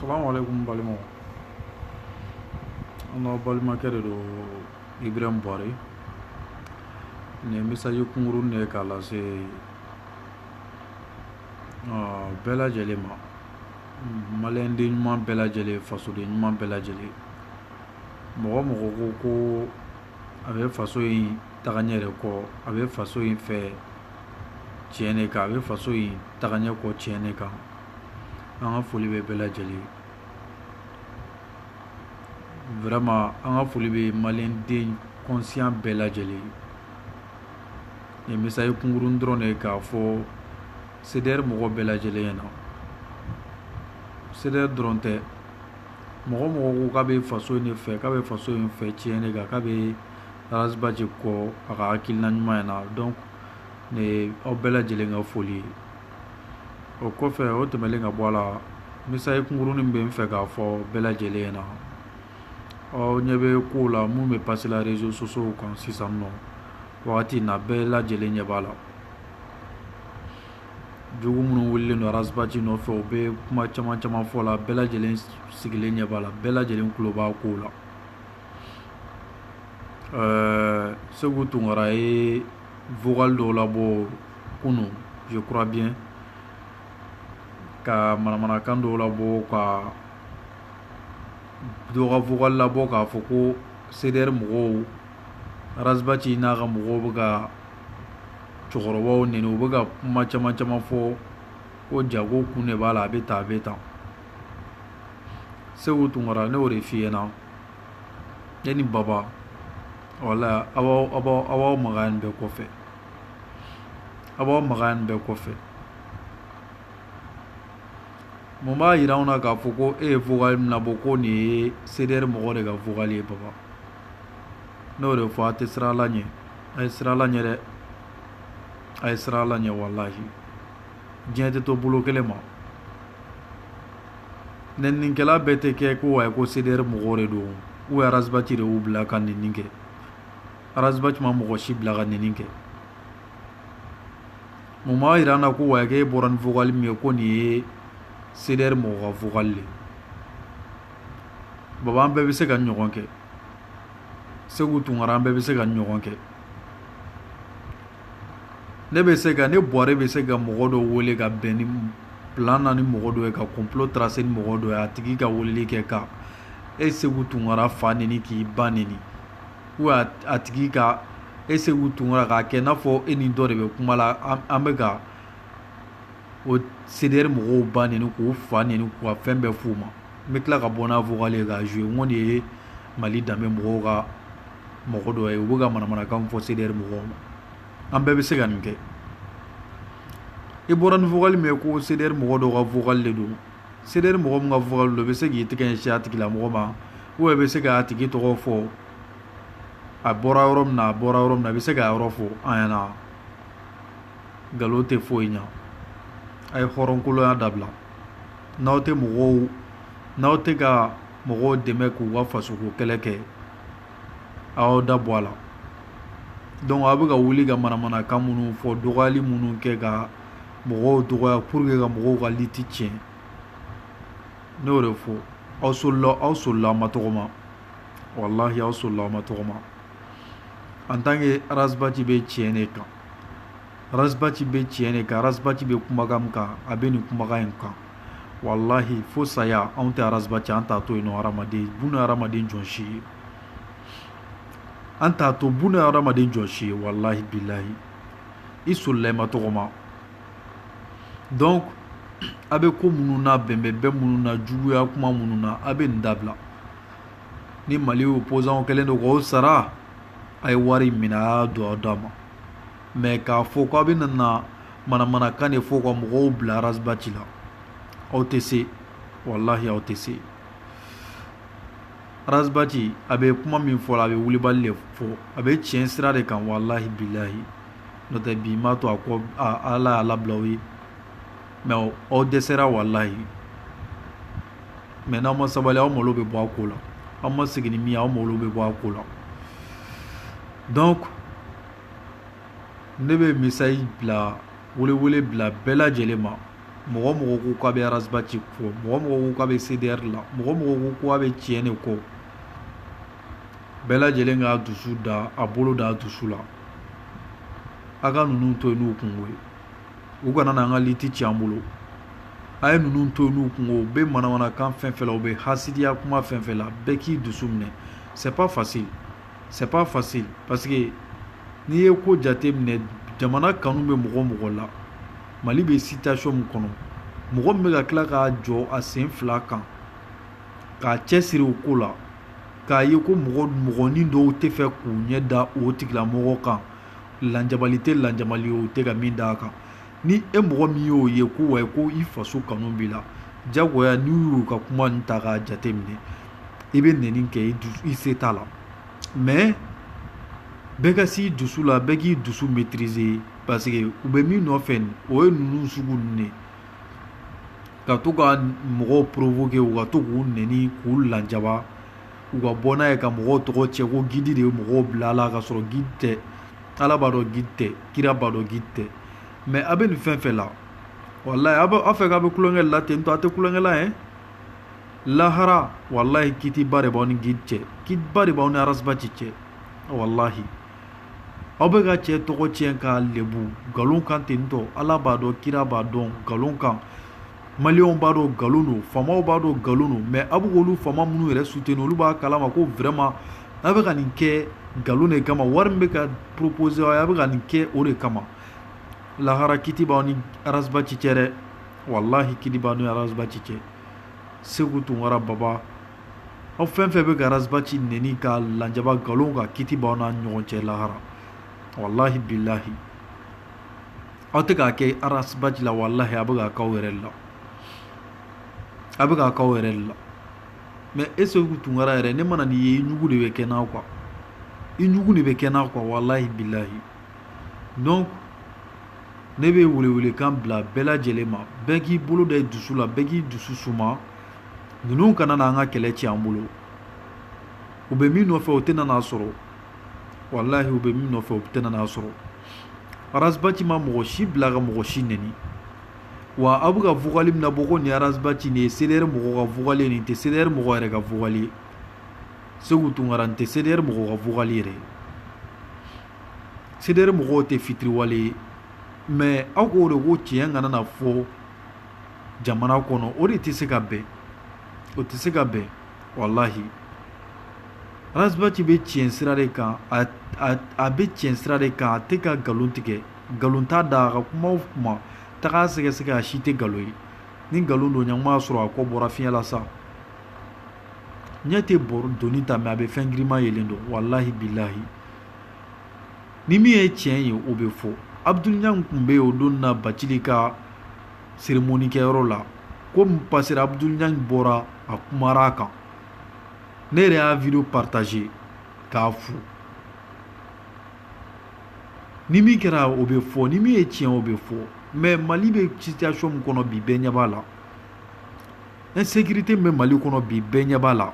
salaamaaleykum balimaw an ka balimakɛ de don ibrahim buhari nin misaji kunkurun de ye k'a lase bɛɛ lajɛlen ma maliyɛnden ɲuman bɛɛ lajɛlen fasoden ɲuman bɛɛ lajɛlen mɔgɔ mɔgɔ ko ko a bɛ faso in taga ɲɛ de kɔ a bɛ faso in fɛ tiɲɛ de kan a bɛ faso in taga ɲɛ kɔ tiɲɛ de kan an ka foli bɛ bɛɛ lajɛlen vraiment an ka foli bɛ maliyɛnden conscient bɛɛ lajɛlen nin ye misaji kunkurunin dɔrɔn de ye k'a fɔ CDR mɔgɔ bɛɛ lajɛlen ɲɛna CDR dɔrɔn tɛ mɔgɔ mɔgɔ ko k'a bɛ faso in de fɛ k'a bɛ faso in fɛ tiɲɛ de kan k'a bɛ ras bath kɔ a ka hakilina ɲuman in na donc nin ye aw bɛɛ lajɛlen ka foli ye o kɔfɛ o tɛmɛlen ka bɔ a la misaji kunkurunin bɛ n fɛ k'a fɔ bɛɛ lajɛlen ɲɛna aw ɲɛ bɛ kow la mun bɛ pase la réseaux sociaux kan sisan nɔ wagati na bɛɛ lajɛlen ɲɛ b'a la jugu minnu wulilen don ras bath nɔfɛ u bɛ kuma caman caman fɔ la bɛɛ lajɛlen sigilen ɲɛ b'a la bɛɛ lajɛlen tulo b'a kow la ɛɛ seku tunkara ye vocal dɔw labɔ kunu je crois bien ka manamanakan dɔw labɔ ka dɔ ka vocal labɔ k'a fɔ ko CDR mɔgɔw ras bath n'a ka mɔgɔw bɛ ka cɛkɔrɔbaw neni u bɛ ka kuma caman caman fɔ ko jago kun de b'a la a bɛ tan a bɛ tan seku tunkara ne y'o de f'i ɲɛna e ni baba walahi aw b'aw aw b'aw aw b'aw magaya nin bɛɛ kɔfɛ aw b'aw magaya nin bɛɛ kɔfɛ mun b'a yira anw na k'a fɔ ko e ye vocal min labɔ ko nin ye CDR mɔgɔ de ka vocal ye baba n'o de fɔ a tɛ siran ala ɲɛ a ye siran ala ɲɛ dɛ a ye siran ala ɲɛ walahi diɲɛ tɛ to bolo kelen ma nɛninikɛla bɛɛ tɛ kɛ ko wayi ko CDR mɔgɔw de don ou ras bath de y'u bila ka nɛnini kɛ ras bath ma mɔgɔ si bila ka nɛnini kɛ mun b'a jira an na ko wayi k'e bɔra ni vocal min ye ko nin ye CDR mɔgɔ ka vocal de ye baba an bɛɛ bɛ se ka nin ɲɔgɔn kɛ segu tunkara an bɛɛ bɛ se ka nin ɲɔgɔn kɛ ne bɛ se ka ne yɛrɛ bɛ se ka mɔgɔ dɔ wele ka bɛn ni plan na ni mɔgɔ dɔ ye ka complot tracer ni mɔgɔ dɔ ye a tigi ka weleli kɛ ka e segu tunkara fa neni k'i ba neni ou a tigi ka e segu tunkara k'a kɛ n'a fɔ e ni dɔ de bɛ kuma la an bɛ ka o cdr mɔgɔw ba neni k'u fa neni ka fɛn bɛɛ f'u ma n bɛ tila ka bɔ n'a fɔlen ka zo n de ye mali danbebe mɔgɔw ka mɔgɔ dɔ ye u bɛ ka manamanakan fɔ cdr mɔgɔw ma an bɛɛ bɛ se ka nin kɛ i bɔra nin fɔli min ye ko cdr mɔgɔ dɔw ka vocal de don cdr mɔgɔ min ka vocal don bɛ se k'i tɛgɛ sin tigilamɔgɔ ma o bɛ se k'a tigi tɔgɔ fɔ a bɔra yɔrɔ min a bɔra yɔrɔ min a bɛ se k'a yɔrɔ fɔ an ɲɛna nkalon tɛ foyi ɲa a ye hɔrɔnkoloya dabila n'aw tɛ mɔgɔw n'aw tɛ ka mɔgɔw dɛmɛ k'u ka fasoko kɛlɛ kɛ aw da bɔ a la donc aw bɛ ka wuli ka manamanakan minnu fɔ dɔgɔyali minnu kɛ ka mɔgɔw dɔgɔya pour que ka mɔgɔw ka lutte tiɲɛ ne y'o de fɔ aw solila aw solila ma tɔgɔma walahi aw solila ma tɔgɔma en tant que ras bath bɛ tiɲɛ de kan Ras Bath bɛ tiɲɛ de kan ras bath bɛ kumakan kan a bɛ nin kumakan in kan walahi fo saya anw tɛ ras bath an t'a to yen hadamaden buna hadamaden jɔn si ye an t'a to buna hadamaden jɔn si ye walahi bilayi i solila ma tɔgɔma donc a bɛ ko minnu na bɛnbɛn bɛɛ minnu na juguya kuma minnu na a bɛ nin dabila ni mali y'o poison kɛlen don o sara a ye wari minɛ a y'a don aw d'a ma mais k'a fɔ k'aw bɛ nana manamanakan de fɔ ka mɔgɔw bila ras bath la aw tɛ se walahi aw tɛ se ras bath a bɛ kuma min fɔ a bɛ wulibali de fɔ a bɛ tiɲɛ sira de kan walahi bilahi n'o tɛ bi m'a to a kɔ ala y'a labila aw ye mais aw dɛsɛra walayi mais n'aw ma sabali aw malo bɛ bɔ a ko la aw ma sigi ni min aw malo bɛ bɔ a ko la donc ne bɛ message bila welewele bila bɛɛ lajɛlen ma mɔgɔ mɔgɔ ko k'a bɛ ras bath kɔ mɔgɔ mɔgɔ ko k'a bɛ cdr la mɔgɔ mɔgɔ ko k'a bɛ tiɲɛ de kɔ bɛɛ lajɛlen k'a dusu da a bolo da a dusu la a ka ninnu to yen n'u kunko ye u kana n'an ka lutte ci an bolo a ye ninnu to n'u kunko u bɛ manamanakan fɛn fɛn la u bɛ hasidiya kuma fɛn fɛn la bɛɛ k'i dusu minɛ c'est pas facile c'est pas facile parce que n'i ye ko jate minɛ jamana kanu bɛ mɔgɔ o mɔgɔ la mali bɛ situation min kɔnɔ mɔgɔ min bɛ ka tila ka jɔ a sen fila kan k'a cɛsiri o ko la k'a ye ko mɔgɔ mɔgɔnin dɔw tɛ fɛ k'u ɲɛ da o tigilamɔgɔ kan lajabali tɛ lajabali u tɛ ka min d'a kan ni e mɔgɔ min y'o ye ko wa ko i faso kanu b'i la jagoya n'i y'u ka kuma in ta k'a jate minɛ i bɛ nɛni kɛ i se t'a la mais bɛɛ ka s'i dusu la bɛɛ k'i dusu maîtriser parce que u bɛ min nɔfɛ o ye ninnu sugu ninnu de ka to ka mɔgɔw provoquer u ka to k'u nɛni k'u lajaba u ka bɔ n'a ye ka mɔgɔw tɔgɔ tiɲɛ ko guide de ye mɔgɔw bil'a la ka sɔrɔ guide tɛ ala b'a dɔn guide tɛ kira b'a dɔn guide tɛ mais a bɛ nin fɛn fɛn la walayi aw b'a fɛ k'a bɛ tulonkɛ la ten tɔ a tɛ tulonkɛ la yen lahara walayi kitiba de b'aw ni guide cɛ kitiba de b'aw ni arasbaci cɛ walahi aw bɛ ka cɛ tɔgɔ tiɲɛ k'a lebu nkalon kan ten tɔ ala b'a dɔn kira b'a dɔn nkalon kan maliɛnw b'a dɔn nkalon don faamaw b'a dɔn nkalon don mais a b'olu faama minnu yɛrɛ soutenir olu b'a kalama ko vraiment a bɛ ka nin kɛ nkalon de kama wari min bɛ ka proposer a bɛ ka nin kɛ o de kama lahara kiti b'aw ni arasbaci cɛ dɛ walahi kiti b'aw ni arasbaci cɛ seku tunkara baba aw fɛn fɛn bɛ ka arasbaci nɛni k'a lajaba nkalon kan kiti b'aw n'a ɲɔgɔn cɛ lahara walahi bilahi aw tɛ k'a kɛ arasibati la walahi a bɛ k'a k'aw yɛrɛ la a bɛ k'a k'aw yɛrɛ la mais e seku tunkara yɛrɛ ne mana nin ye i ɲugu de bɛ kɛ n na quoi i ɲugu de bɛ kɛ n na quoi walahi bilahi donc ne bɛ welewelekan bila bɛɛ lajɛlen ma bɛɛ k'i bolo da i dusu la bɛɛ k'i dusu suma ninnu kana na an ka kɛlɛ tiɲɛ an bolo u bɛ min nɔfɛ u tɛna n'a sɔrɔ walahi u bɛ min nɔfɛ u tɛna n'a sɔrɔ arasbaci ma mɔgɔ si bila ka mɔgɔ si nɛni wa aw bɛ ka vocal min nabɔ ko nin arasbaci nin ye cdr mɔgɔ ka vocal nin tɛ cdr mɔgɔ yɛrɛ ka vocal ye seku tunkara nin tɛ cdr mɔgɔ ka vocal yɛrɛ ye cdr mɔgɔw tɛ fitiriwale ye mais aw k'o de ko tiɲɛ kana na fɔ jamana kɔnɔ o de tɛ se ka bɛn o tɛ se ka bɛn walahi Ras Bath bɛ tiɲɛ sira de kan a bɛ tiɲɛ sira de kan a tɛ ka nkalon tigɛ nkalon t'a da a ka kuma o kuma taga sɛgɛsɛgɛ a si tɛ nkalon ye ni nkalon don ɲɛngoya sɔrɔ a kɔ bɔra fiɲɛ la sa ɲɛ tɛ bɔrɔ doni ta mɛ a bɛ fɛn girinman yelen dɔn walahi bilahi ni min ye tiɲɛ ye o bɛ fɔ Abdul Niang tun bɛ yen o don na bacili ka cérémonie kɛyɔrɔ la ko min passera Abdul Niang bɔra a kumara a kan ne yɛrɛ y'a video partager k'a fo ni min kɛra o bɛ fɔ ni min ye tiɲɛ o bɛ fɔ mais mali bɛ situation min kɔnɔ bi bɛɛ ɲɛ b'a la insécurité min bɛ mali kɔnɔ bi bɛɛ ɲɛ b'a la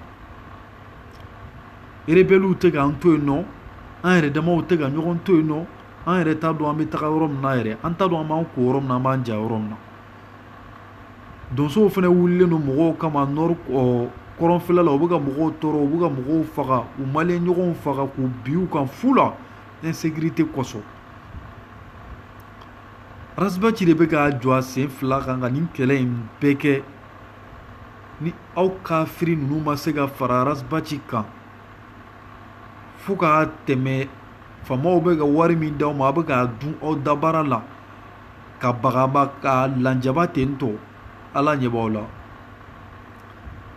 rebelliw tɛ k'an to yen nɔ an yɛrɛ damaw tɛ ka ɲɔgɔn to yen nɔ an yɛrɛ t'a dɔn an bɛ taga yɔrɔ min na yɛrɛ an t'a dɔn an b'an ko yɔrɔ min na an b'an ja yɔrɔ min na donsow fana wulilen don mɔgɔw kama nɔri kɔrɔnfɛla la u bɛ ka mɔgɔw tɔɔrɔ u bɛ ka mɔgɔw faga u maliyɛn ɲɔgɔnw faga k'u bin u kan fu la insécurité kosɔn Ras Bath de bɛ ka jɔ a sen fila kan ka nin kɛlɛ in bɛɛ kɛ ni aw kafiri ninnu ma se ka fara Ras Bath kan fo ka tɛmɛ faamaw bɛ ka wari min di aw ma a bɛ k'a dun aw dabara la k'a bagaba k'a lajaba ten tɔ ala ɲɛ b'aw la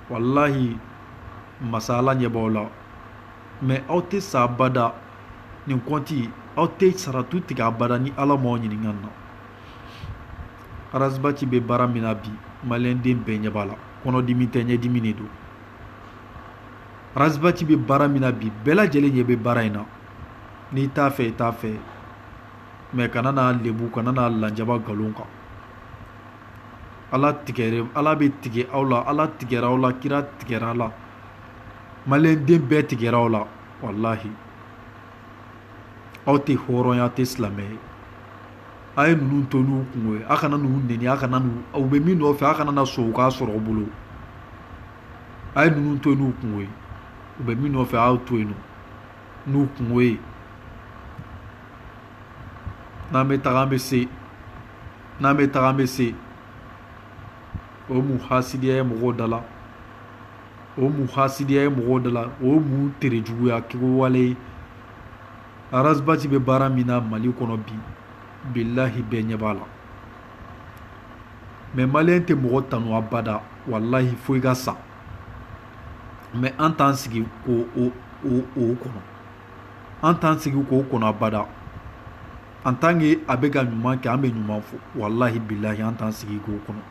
walahi masa ala ɲɛ b'aw la mɛ aw tɛ sa abada nin kɔnti aw tɛ saratu tigɛ abada ni ala m'aw ɲininka na Ras Bath bɛ baara min na bi maliyɛnden bɛɛ ɲɛ b'a la kɔnɔdimi tɛ ɲɛdimi de don Ras Bath bɛ baara min na bi bɛɛ lajɛlen ɲɛ bɛ baara in na n'i t'a fɛ i t'a fɛ mais kana n'a lebu kana n'a lajaba nkalon kan Ala tigɛra Ala bɛ tigɛ aw la Ala tigɛra aw la kira tigɛra aw la maliyɛn den bɛɛ tigɛra aw la walahi aw tɛ hɔrɔn ye aw tɛ silamɛ ye a ye ninnu to n'u kungo ye aw kana ninnu neni aw kana n'u u bɛ min nɔfɛ aw kana na sɔn u k'a sɔrɔ aw bolo a ye ninnu to yen n'u kungo ye u bɛ min nɔfɛ a y'o to yen n'u kungo ye n'an bɛ taga an bɛ se n'an bɛ taga an bɛ se o ye mun hasidiya ye mɔgɔw da la o ye mun hasidiya ye mɔgɔw da la o ye mun tere juguya kɛwale ye Ras Bath bɛ baara min na mali kɔnɔ bi bilahi bɛɛ ɲɛ b'a la mɛ maliyɛn tɛ mɔgɔ tanu abada walahi fo i ka sa mɛ an t'an sigi k'o kɔnɔ an t'an sigi k'o kɔnɔ abada en tant que a bɛ ka ɲuman kɛ an bɛ ɲuman fɔ walahi bilahi an t'an sigi k'o kɔnɔ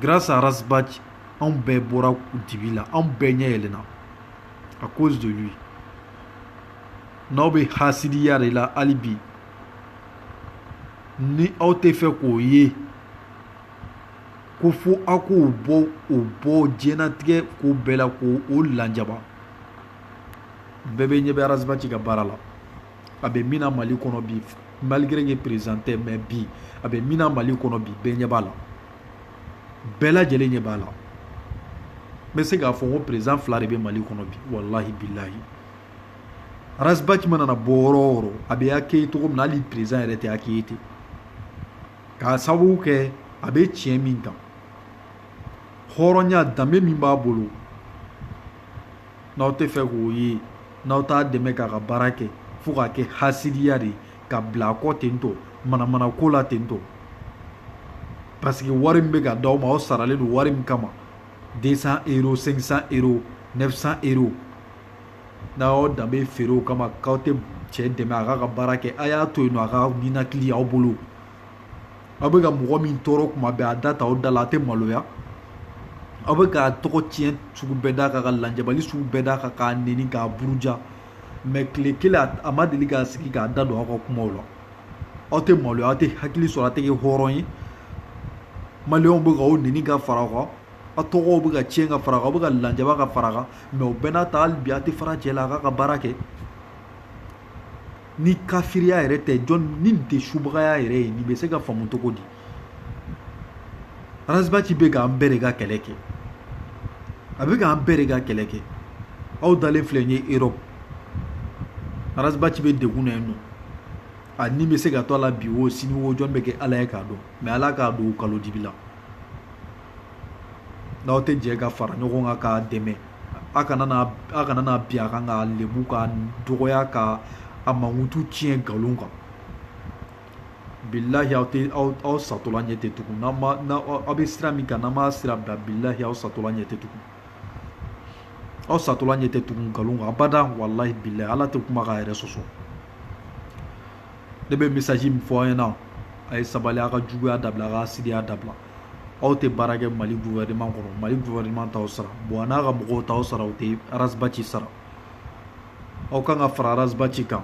grâce à Ras Bath anw bɛɛ bɔra dibi la anw bɛɛ ɲɛ yɛlɛna à cause de lui n'aw bɛ hasidiya de la hali bi ni aw tɛ fɛ k'o ye ko fo aw k'o bɔ o bɔ diɲɛnatigɛ ko bɛɛ la k'o lajaba bɛɛ bɛɛ ɲɛ bɛ Ras Bath ka baara la a bɛ min na mali kɔnɔ bi malgré que perezan tɛ mɛ bi a bɛ min na mali kɔnɔ bi bɛɛ ɲɛ b'a la bɛɛ lajɛlen ɲɛ b'a la n bɛ se k'a fɔ ko perezan fila de bɛ mali kɔnɔ bi walahi bilayi Ras Bath mana na bɔ yɔrɔ o yɔrɔ a bɛ accueilli cogo min na hali perezan yɛrɛ tɛ accueilli ten k'a sababu kɛ a bɛ tiɲɛ min kan hɔrɔnya danbe min b'a bolo n'aw tɛ fɛ k'o ye n'aw t'a dɛmɛ k'a ka baara kɛ fo k'a kɛ hasidiya de ye ka bila a kɔ ten tɔ manamana ko la ten tɔ parce que wari min bɛ ka d'aw ma aw saralen don wari min kama 200 euro 500 euro 900 euro n'a y'aw danbe feere o kama k'aw tɛ cɛ dɛmɛ a k'a ka baara kɛ a y'a to yen nɔ a ka ninakili aw bolo aw bɛ ka mɔgɔ min tɔɔrɔ kuma bɛɛ a da t'aw da la a tɛ maloya aw bɛ ka tɔgɔ tiɲɛ sugu bɛɛ d'a kan ka lajabali sugu bɛɛ d'a kan k'a neni k'a buruja mɛ tile kelen a ma deli k'a sigi k'a da don aw ka kumaw la aw tɛ maloya aw tɛ hakili sɔrɔ a tɛ kɛ hɔrɔn ye maliyɛnw bɛ k'aw neni ka fara aw kan A tɔgɔ bɛ ka tiɲɛ ka fara bɛ ka lajaba ka fara mɛ o bɛɛ n'a ta bi a tɛ fara cɛ la a k'a ka baara kɛ ni kariya yɛrɛ tɛ jɔn nin tɛ subagaya yɛrɛ ye nin bɛ se ka faamu cogo di Ras Bath bɛ k'an bɛɛ de ka kɛlɛ kɛ a bɛ k'an bɛɛ de ka kɛlɛ kɛ aw dalen filɛ ye e Ras Bath bɛ degun na yen nɔ a ni bɛ se ka to a la bi o sini o jɔn bɛ kɛ ala ye k'a dɔn mɛ ala k'a don kalo dibi la n'aw tɛ jɛ ka fara ɲɔgɔn kan k'a dɛmɛ a kana a kana na bin a kan k'a lebu k'a dɔgɔya k'a mankutu tiɲɛ nkalon kan bilahi aw tɛ aw satɔla ɲɛ tɛ tugu n'aw ma aw bɛ sira min kan n'aw m'a sira bila bilahi aw satɔla ɲɛ tɛ tugu aw satɔla ɲɛ tɛ tugu nkalon kan abada walahi bilahi ala tɛ kuma k'a yɛrɛ sɔsɔ ne bɛ message min fɔ aw ɲɛna a ye sabali a ka juguya dabila a ka hasidiya dabila aw tɛ baara kɛ mali gouvernement kɔnɔ mali gouvernement t'aw sara boua n'a ka mɔgɔw t'aw sara u tɛ ras bath sara aw kan ka fara ras bath kan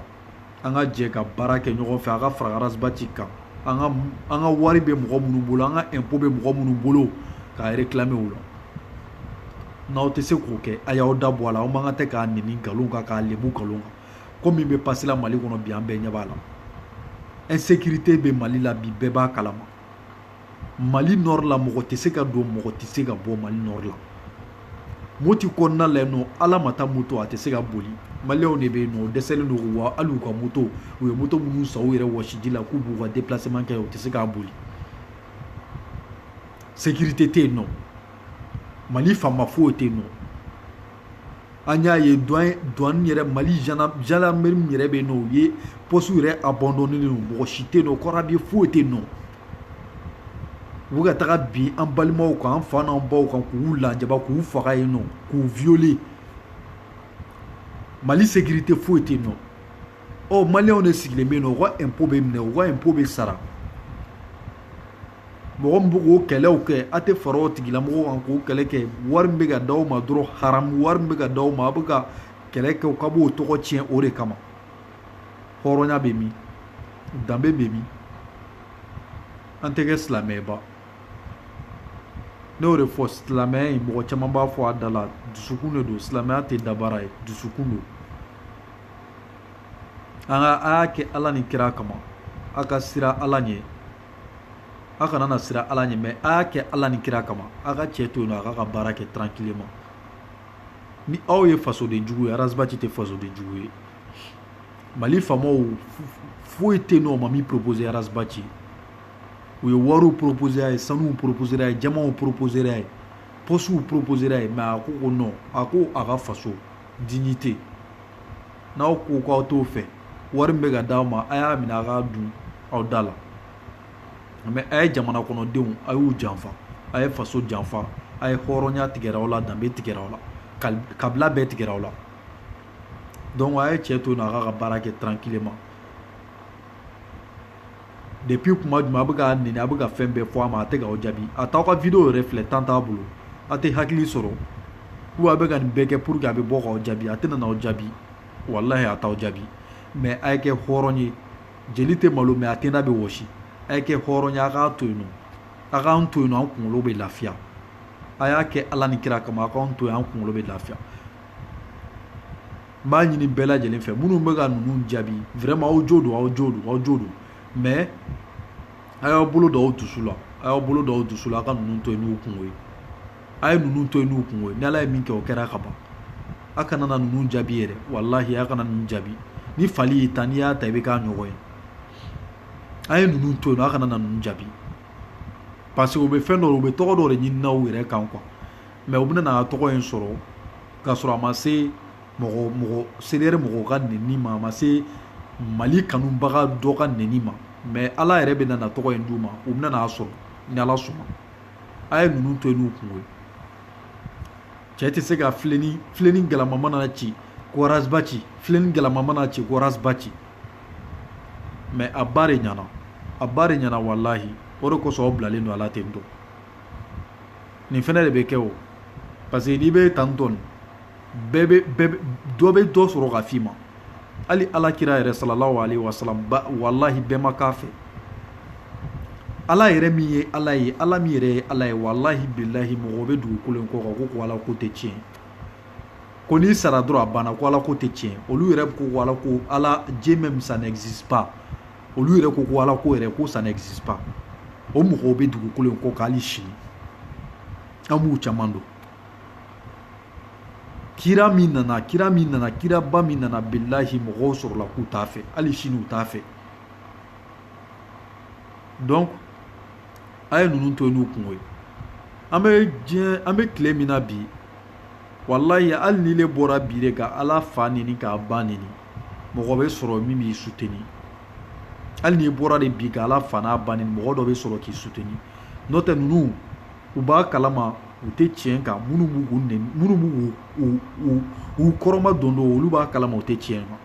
an ka jɛ ka baara kɛ ɲɔgɔn fɛ a ka fara ras bath kan an ka an ka wari bɛ mɔgɔ minnu bolo an ka impôt bɛ mɔgɔ minnu bolo k'a réclamer u la n'aw tɛ se k'o kɛ a y'aw da bɔ a la aw man kan tɛ k'a nɛni nkalon kan k'a lebu nkalon kan ko min bɛ passer la mali kɔnɔ bi an bɛɛ ɲɛ b'a la insécurité bɛ mali la bi bɛɛ b'a kalama mali nord la mɔgɔ tɛ se ka don mɔgɔ tɛ se ka bɔ mali nord la moti kɔnɔna la nɔ ala ma taa moto a tɛ se ka boli maliyɛnw de bɛ yen nɔ u dɛsɛlen don wa hali u ka moto u ye moto minnu san u yɛrɛ wɔsiji la k'u b'u ka déplacement kɛ u tɛ se k'a boli sécurité tɛ yen nɔ mali faama foyi tɛ yen nɔ an y'a ye douane yɛrɛ mali gendarmerie yɛrɛ bɛ yen nɔ o ye pɔsi yɛrɛ abandonnélen don mɔgɔ si tɛ yen nɔ corps habillé foyi tɛ yen nɔ u ka taga bin an balimaw kan an fa n'an baw kan k'u lajaba k'u faga yen nɔ k'u violer mali sécurité foyi tɛ yen nɔ ɔ maliyɛnw de sigilen bɛ yen nɔ u ka impôt bɛ minɛ u ka impôt bɛ sara mɔgɔ min bɛ k'o kɛlɛw kɛ a tɛ fara o tigilamɔgɔ kan k'o kɛlɛ kɛ wari min bɛ ka d'aw ma dɔrɔn haramu wari min bɛ ka d'aw ma a bɛ ka kɛlɛ kɛ u ka b'o tɔgɔ tiɲɛ o de kama hɔrɔnya bɛ min danbe bɛ min an tɛ kɛ silamɛba ne y'o de fɔ silamɛya in mɔgɔ caman b'a fɔ a da la dusukun de don silamɛya tɛ dabaara ye dusukun don an ka a y'a kɛ ala ni kira kama aw ka siran ala ɲɛ aw kana na siran ala ɲɛ mais a y'a kɛ ala ni kira kama aw ka cɛ to yen nɔ a k'a ka baara kɛ tranquillement ni aw ye fasoden jugu ye ras bath tɛ fasoden jugu ye mali faamaw foyi tɛ yen nɔ u ma min propose ras bath u ye wariw propose a ye sanuw propose a ye jamanw propose a ye pɔsiw propose a ye mais a ko ko non a ko a ka faso dignité n'aw ko k'aw t'o fɛ wari min bɛ ka d'aw ma a y'a minɛ a k'a dun aw da la mais a ye jamana kɔnɔdenw a y'u janfa a ye faso janfa a ye hɔrɔnya tigɛra aw la danbe tigɛra aw la kabila bɛɛ tigɛra aw la donc a ye cɛ to yen nɔ a k'a ka baara kɛ tranquillement depuis kuma jumɛn a bɛ ka nɛni a bɛ ka fɛn bɛɛ fɔ a ma a tɛ ka aw jaabi a t'aw ka video yɛrɛ filɛ temps t'a bolo a tɛ hakili sɔrɔ ko a bɛ ka nin bɛɛ kɛ pour que a bɛ bɔ k'aw jaabi a tɛna n'aw jaabi walahi a t'aw jaabi mais a ye kɛ hɔrɔn ye jeli tɛ malo mais a tenda bɛ wɔsi a ye kɛ hɔrɔn ye a k'a to yen nɔ a k'an to yen nɔ an kunkolo bɛ lafiya a y'a kɛ ala ni kira kama a k'an to yen an kunkolo bɛ lafiya n b'a ɲini bɛɛ lajɛlen fɛ minnu bɛ ka ninnu jaabi vraiment aw jo don aw jo don aw jo don mais a y'aw bolo don aw dusu la a y'aw bolo don aw dusu la a ka ninnu to yen n'u kungo ye a ye ninnu to yen n'u kungo ye ni ala ye min kɛ o kɛra ka ban a kana na ninnu jaabi yɛrɛ walahi a kana ninnu jaabi ni fali y'i tan n'i y'a tan i bɛ k'a ɲɔgɔn ye a ye ninnu to yen nɔ a kana na ninnu jaabi parce que u bɛ fɛn dɔ u bɛ tɔgɔ dɔ de ɲini aw yɛrɛ kan quoi mais u bɛna na tɔgɔ in sɔrɔ k'a sɔrɔ a ma se mɔgɔ mɔgɔ CDR mɔgɔw ka nɛni ma a ma se mali kanubaga dɔ ka nɛni ma mais ala yɛrɛ bɛna na tɔgɔ in d'u ma u bɛna n'a sɔrɔ ni ala sɔnna a ye ninnu to yen n'u kungo ye cɛ tɛ se ka filenni filenni galama mana ci ko Ras Bath filenni galama mana ci ko Ras Bath mais a ba de ɲɛna a ba de ɲɛna walahi o de kosɔn aw bilalen don a la ten tɔ nin fana de bɛ kɛ o parce que n'i bɛ tan tɔn bɛɛ bɛ bɛɛ dɔ bɛ dɔ sɔrɔ ka f'i ma hali ala kira yɛrɛ salallahu alayhi wasalam walahi bɛɛ ma k'a fɛ ala yɛrɛ min ye ala ye ala min yɛrɛ ye ala ye walahi bilahi mɔgɔ bɛ dugukolo in kɔ kan ko ko ala ko tɛ tiɲɛ ko n'i sara dɔrɔn a banna ko ala ko tɛ tiɲɛ olu yɛrɛ ko ko ala ko ala Dieu même ça n'existe pas olu yɛrɛ ko ko ala ko yɛrɛ ko ça n'existe pas o mɔgɔw bɛ dugukolo in kɔ kan hali sini an b'u caman dɔn kira min nana kira min nana kiraba min nana bilahi mɔgɔw sɔrɔla k'u t'a fɛ hali sini u t'a fɛ donc a ye ninnu to yen n'u kungo ye an bɛ diɲɛ an bɛ tile min na bi walayi hali ni e bɔra bi de ka ala fa neni k'a ba neni mɔgɔ bɛ sɔrɔ min b'i soutenir hali n'i bɔra de bi ka ala fa n'a ba neni mɔgɔ dɔ bɛ sɔrɔ k'i soutenir n'o tɛ ninnu u b'a kalama u tɛ tiɲɛ kan minnu b'u minnu b'u u kɔrɔma don don olu b'a kalama u tɛ tiɲɛ kan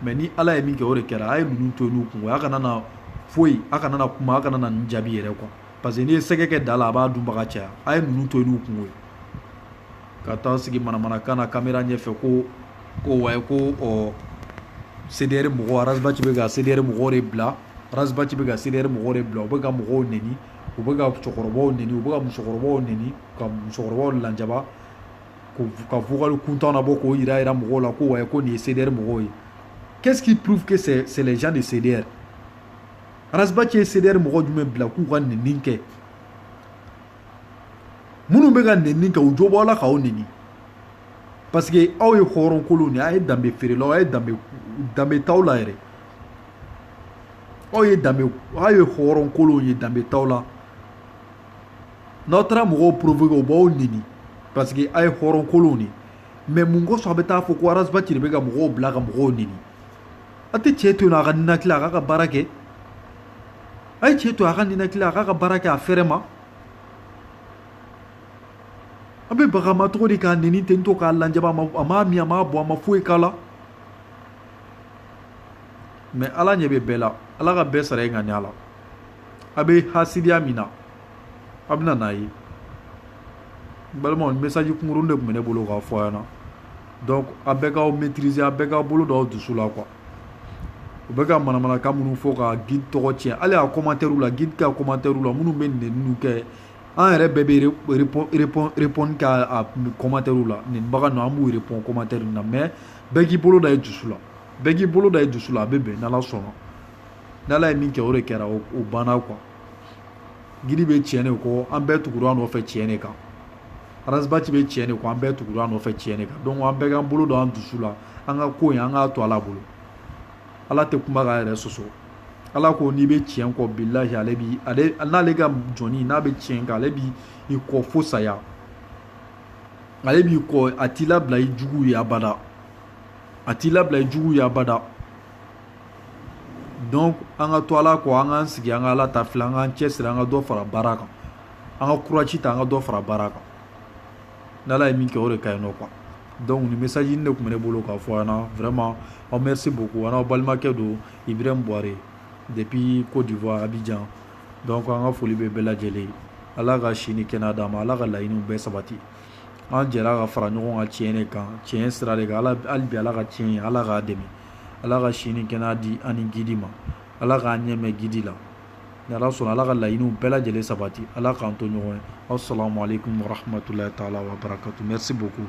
mais ni ala ye min kɛ o de kɛra a ye ninnu to yen n'u kun ye a kana na foyi a kana na kuma a kana na nin jaabi yɛrɛ quoi parce que n'i ye sɛgɛ kɛ da la a b'a dunbaga caya a ye ninnu to yen n'u kun ye ka taa sigi manamanakan na kamera ɲɛfɛ ko ko ouais ko ɔ CDR mɔgɔ Ras Bath bɛ ka CDR mɔgɔw de bila Ras Bath bɛ ka CDR mɔgɔw de bila u bɛ ka mɔgɔw neni u bɛ ka cɛkɔrɔbaw neni u bɛ ka musokɔrɔbaw neni ka musokɔrɔbaw lanjaba ka vocal kuntan nabɔ k'o yira yira mɔgɔw la ko ouais ko nin ye CDR mɔgɔw ye qu'est-ce qui prouve que c'est c'est les gens de CDR Ras Bath ye CDR mɔgɔ jumɛn bila k'u ka neni kɛ minnu bɛ ka nɛni kɛ u jo b'u la k'aw nɛni parce que aw ye hɔrɔnkolonw de ye a ye danbe feerelaw a ye danbe danbe t'aw la yɛrɛ aw ye danbe aw ye hɔrɔnkolonw ye danbe t'aw la n'aw taara mɔgɔw provoquer u b'aw nɛni parce que aw ye hɔrɔnkolonw de ye mais mun kosɔn a bɛ taa fɔ ko ras bath de bɛ ka mɔgɔw bila ka mɔgɔw nɛni a tɛ cɛ to yen nɔ a ka ninakili a k'a ka baara kɛ a ye cɛ to a ka ninakili a k'a ka baara kɛ a fɛrɛma a bɛ baga a ma cogo di k'a nɛni ten to k'a lajaba a ma a m'a min a m'a bɔn a ma foyi k'a la mais ala ɲɛ bɛ bɛɛ la ala ka bɛɛ sara i ŋaniya la a bɛ hasidiya min na a bɛna n'a ye n balimaw message kunkuruni de tun bɛ ne bolo k'a fɔ a ɲɛna donc a bɛɛ k'aw maîtriser a bɛɛ k'a bolo da aw dusu la quoi u bɛ ka manamanakan minnu fɔ ka gidi tɔgɔ cɛn hali y'a commentairew la gidi ta commentairew la minnu bɛ nɛni kɛ an yɛrɛ bɛɛ b'u répondre commentairew la ni bagan don an b'u répondre commentaire na mais bɛɛ k'i bolo da i dusu la bɛɛ k'i bolo da i dusu la a bɛ bɛn n'ala sɔnna ni ala ye min kɛ o de kɛra o banna quoi gidi bɛ tiɲɛ de kɔ an bɛɛ tugura a nɔfɛ tiɲɛ de kan Ras Bath bɛ cɛn de kɔ an bɛɛ tugura a nɔfɛ cɛn de kan donc an bɛɛ k'an bolo don an dusu la an ka ko an k'a to ala bolo ala tɛ kuma k'a yɛrɛ sɔsɔ ala ko n'i bɛ cɛn kɔ bi la ale n'ale ka jɔn n'a bɛ cɛn kan ale b'i kɔ fo saya ale b'i kɔ a t'i labila i jugu ye abada a t'i labila i jugu ye abada donc an ka to ala kɔ an k'an sigi an ka ala ta filɛ an k'an cɛsiri an ka dɔ fara baara kan an ka courage ta an ka dɔ fara baara kan n'ala ye min kɛ o de ka ɲi nɔ quoi donc nin message nin de tun bɛ ne bolo k'a fɔ aw ɲɛna vraiment aw merci beaucoup an'aw balimakɛ don ibrahim buware depuis côte d'ivoire abidjan donc an ka foli bɛ bɛɛ lajɛlen ye ala ka si ni kɛnɛya d'a ma ala ka laɲiniw bɛɛ sabati an jɛra ka fara ɲɔgɔn kan tiɲɛ de kan tiɲɛ sira de kan ala hali bi ala ka tiɲɛ ye ala k'a dɛmɛ ala ka si ni kɛnɛya di an ni gidi ma ala k'an ɲɛ mɛɛn gidi la ni ala sɔnna ala ka laɲiniw bɛɛ lajɛlen sabati ala k'an to ɲɔgɔn ye assalamu alaikum warahmatullahi taala wabarakatu merci beaucoup